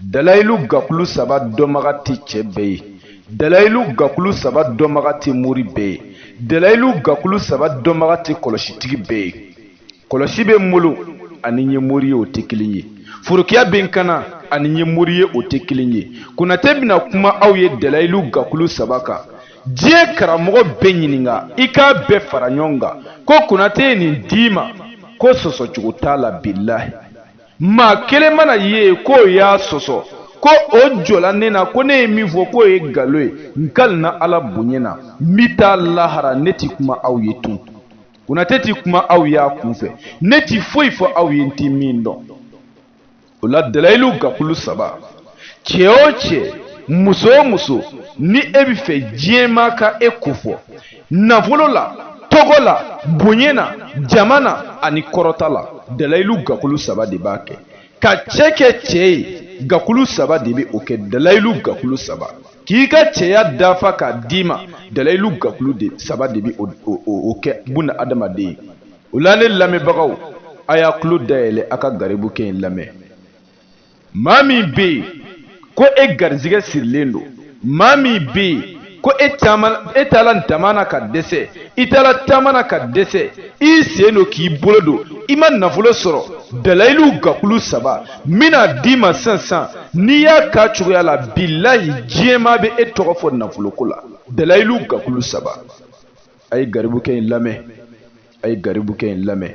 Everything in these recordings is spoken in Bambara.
dalayilu gakulu saba dɔnbaga tɛ cɛ bɛɛ ye dalayilu gakulu saba dɔnbaga tɛ mori bɛɛ ye dalayilu gakulu saba dɔnbaga tɛ kɔlɔsitigi bɛɛ ye kɔlɔsi bɛ n bolo ani n ye mori ye o tɛ kelen ye forokiya bɛ n kana ani n ye mori ye o tɛ kelen ye konatɛ bɛna kuma aw ye dalayilu gakulu saba kan diɲɛ karamɔgɔ bɛɛ ɲininka i k'a bɛɛ fara ɲɔgɔn kan ko konatɛ ye nin d'i ma ko sɔsɔcogo t'a la bilahi maa kelen mana ye k'o y'a sɔsɔ ko o jɔla ne na ko ne ye min fɔ k'o ye nkalon ye n kalina ala bonya na n bɛ taa lahara ne tɛ kuma aw ye tun konatɛ tɛ kuma aw y'a kunfɛ ne tɛ foyi fɔ aw ye n tɛ min dɔn o la dalayilu gakulu saba cɛ o cɛ muso o muso ni e bɛ fɛ diɲɛmaa ka e kofɔ nafolo la tɔgɔ la bonya na jama na ani kɔrɔta la dalayilu gakulu saba de b'a kɛ ka cɛ kɛ cɛ ye gakulu saba de bɛ o kɛ dalayilu gakulu saba k'i ka cɛya dafa k'a d'i ma dalayilu gakulu de saba de bɛ o kɛ buna adamaden ye o la ne lamɛnbagaw a y'a tulo dayɛlɛ a ka garibukɛ in lamɛn maa min bɛ yen ko e garijɛgɛ sirilen don maa min bɛ yen ko e taala dama na ka dɛsɛ i taala taama na ka dɛsɛ i sen don k'i bolo don i ma nafolo sɔrɔ dalayilu gakulu saba n bɛn'a d'i ma sisan sisan n'i y'a k'a cogoya la bilahi diɲɛmaa bɛ e tɔgɔ fɔ nafoloko la dalayilu gakulu saba a ye garibukɛ in lamɛn a ye garibukɛ in lamɛn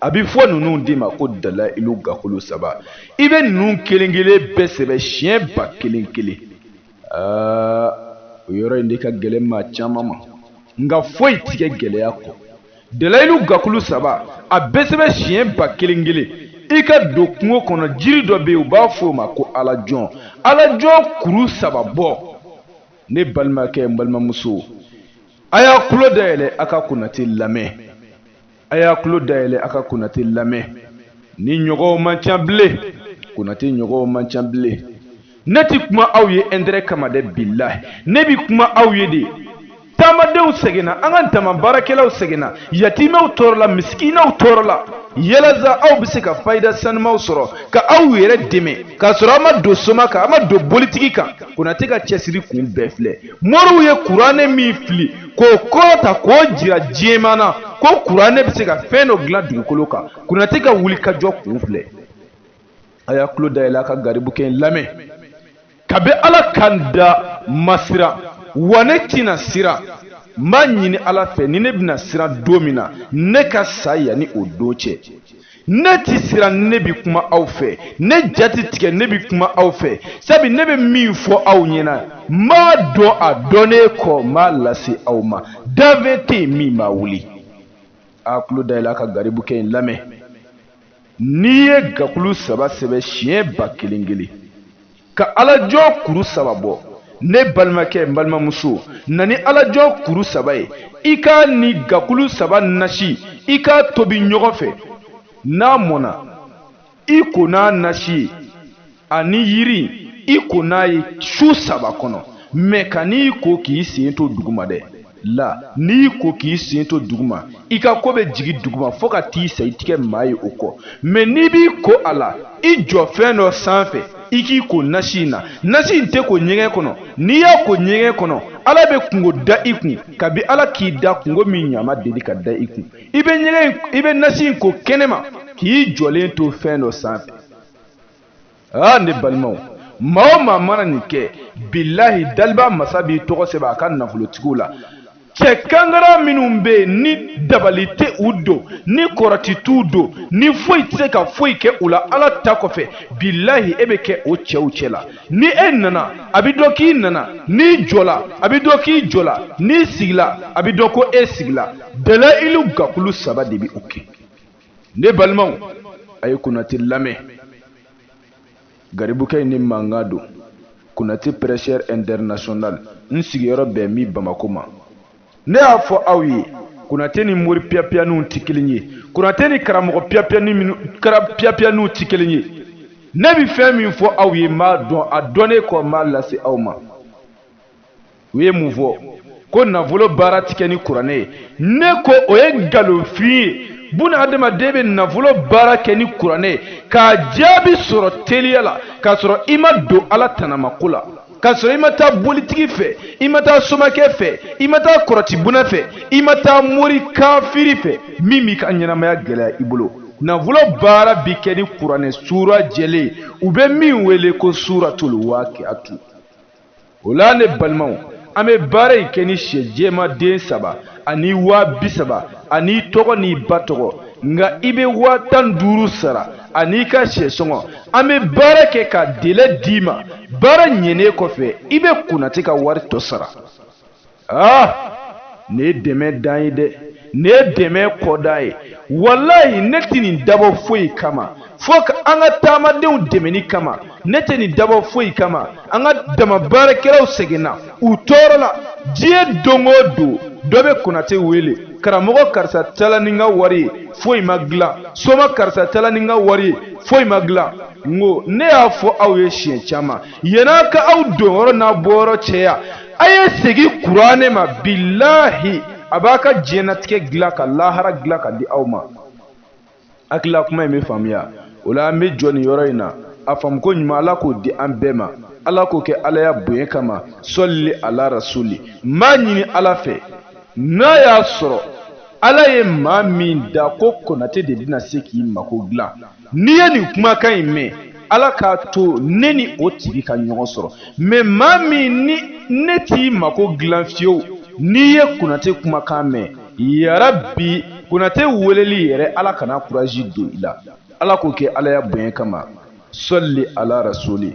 a bɛ fɔ ninnu de ma ko dalayilu gakulu saba i bɛ ninnu kelen kelen bɛɛ sɛbɛn siɲɛ ba kelen kelen aa o yɔrɔ in de ka gɛlɛn maa caman ma nka foyi ti kɛ gɛlɛya kɔ dalayilu gakulu saba a bɛ sɛbɛn siɲɛ ba kelen kelen i ka don kungo kɔnɔ jiri dɔ bɛ yen u b'a fɔ o ma ko alajɔn alajɔn kuru saba bɔ ne balimakɛ n balimamuso a y'a tulo dayɛlɛ a ka konate lamɛn a y'a tulo dayɛlɛ a ka konate lamɛn ne ɲɔgɔnw man ca bilen konate ɲɔgɔnw man ca bilen ne ti kuma aw ye intérêt kama dɛ bilahi ne bi kuma aw ye de taamadenw sɛgɛnna an ka dama baarakɛlaw sɛgɛnna yatimɛw tɔɔrɔla misikinaw tɔɔrɔla yalasa aw bɛ se ka fayida sanumaw sɔrɔ ka aw yɛrɛ dɛmɛ k'a sɔrɔ aw ma don soma kan aw ma don bolitigi kan konate ka cɛsiri kun bɛɛ filɛ moriw ye kuranɛ min fili k'o kɔrɔta k'o jira diɲɛmaa na ko kuranɛ bɛ se ka fɛn dɔ dilan dugukolo kan konate ka wuli ka jɔ kun filɛ a y'a tulo dayɛlɛ a ka garibukɛ in lamɛn kabi ala ka n da n ma siran wa ne tɛna siran n b'a ɲini ala fɛ ni ne bɛna siran don min na ne ka sa yanni o don cɛ ne tɛ siran ne bɛ kuma aw fɛ ne ja ti tigɛ ne bɛ kuma aw fɛ sabu ne bɛ min fɔ aw ɲɛna m'a dɔn a dɔnnen kɔ m'a lase aw ma danfɛn tɛ yen min b'a wuli a tulo dayɛlɛ a ka garibukɛ in lamɛn n'i ye gakulu saba sɛbɛn siɲɛ ba kelen kelen ka alajɔ kuru saba bɔ ne balimakɛ n balimamuso na ni alajɔ kuru saba ye i k'a ni gakulu saba nasi i k'a tobi ɲɔgɔn fɛ n'a mɔna i ko n'a nasi ye ani yiri i ko n'a ye su saba kɔnɔ mɛ kan'i ko k'i sen to duguma dɛ la n'i ko k'i sen to duguma i ka ko bɛ jigin duguma fo ka t'i sa i ti kɛ maa ye o kɔ mɛ n'i b'i ko a la i jɔ fɛn dɔ sanfɛ i k'i ko nasi in na nasi in tɛ ko ɲɛgɛn kɔnɔ n'i y'a ko ɲɛgɛn kɔnɔ ala bɛ kunko da i kun kabi ala k'i da kunko min ɲɔgɔn ma deli ka da i kun i bɛ ɲɛgɛn i bɛ nasi in ko kɛnɛma k'i jɔlen to fɛn dɔ sanfɛ aa ne balimaw maa o maa mana nin kɛ bilahi daliba masa b'i tɔgɔ sɛbɛn a ka nafolotigiw la cɛ kangara minnu bɛ yen ni dabali tɛ u don ni kɔrɔti t'u don ni foyi tɛ se ka foyi kɛ u la ala ta kɔfɛ bilahi e bɛ kɛ o cɛw cɛ la ni e nana a bɛ dɔn k'i nana n'i jɔla a bɛ dɔn k'i jɔla n'i sigila a bɛ dɔn ko e sigila dalayilu gakulu saba de bɛ o kɛ ne balimaw a ye konate lamɛn garibukɛ in ni mankan don konate prêcheur international n sigiyɔrɔ bɛn mi bamako ma ne y'a fɔ aw ye konate ni mori piyapiyaniw tɛ kelen ye konate ni karamɔgɔ piyapiyaniw tɛ kelen ye ne bɛ fɛn min fɔ aw ye n b'a dɔn a dɔnnen kɔ n b'a lase aw ma u ye mun fɔ ko nafolo baara ti kɛ ni kuranɛ ye ne ko o ye nkalonfin ye buna adamaden bɛ nafolo baara kɛ ni kuranɛ ye k'a jaabi sɔrɔ teliya la k'a sɔrɔ i ma don ala tanamako la k'a sɔrɔ i ma taa bolitigi fɛ i ma taa somakɛ fɛ i ma taa kɔrɔtibuna fɛ i ma taa mori kafiri fɛ min b'i ka ɲɛnamaya gɛlɛya i bolo nafolo baara bi kɛ ni kuranɛ suura jɛlen ye u bɛ min wele ko suuratul waakiatu o la ne balimaw an bɛ baara in kɛ ni sɛ jɛman den saba ani waa bi saba an'i tɔgɔ n'i ba tɔgɔ nka i bɛ waa tan duuru sara an'i ka sɛ sɔngɔ an bɛ baara kɛ ka délai d'i ma baara ɲɛnen kɔfɛ i bɛ konate ka wari tɔ sara aa ne ye dɛmɛ dan ye dɛ ne ye dɛmɛ kɔda ye walayi ne tɛ nin dabɔ foyi kama fo ka an ka taamadenw dɛmɛni kama ne tɛ nin dabɔ foyi kama an ka dama baarakɛlaw sɛgɛnna u tɔɔrɔla diɲɛ don o don dɔ bɛ konate wele karamɔgɔ karisa taala ni n ka wari ye foyi ma dilan soma karisa taala ni n ka wari ye foyi ma dilan n ko ne y'a fɔ aw ye siɲɛ caman yan a ka aw donyɔrɔ n'a bɔyɔrɔ caya a ye segin kuranɛ ma bilahi a b'a ka diɲɛnatigɛ dilan ka lahara dilan ka di aw ma hakili la kuma in bɛ faamuya o la an bɛ jɔ nin yɔrɔ in na a faamuko ɲuman ala k'o di an bɛɛ ma ala k'o kɛ alaya bonya kama sɔli ala rasuli n b'a ɲini ala fɛ n'a y'a sɔrɔ ala ye maa min da ko konate de bɛna se k'i mako dilan n'i ye nin kumakan in mɛn ala k'a to ne ni o tigi ka ɲɔgɔn sɔrɔ mɛ maa min ni ne t'i mako dilan fiyewu n'i ye konate kumakan mɛn yarabi konate weleli yɛrɛ ala kana kuraji don i la ala k'o kɛ alaya bonya kama sɔli ala rasuli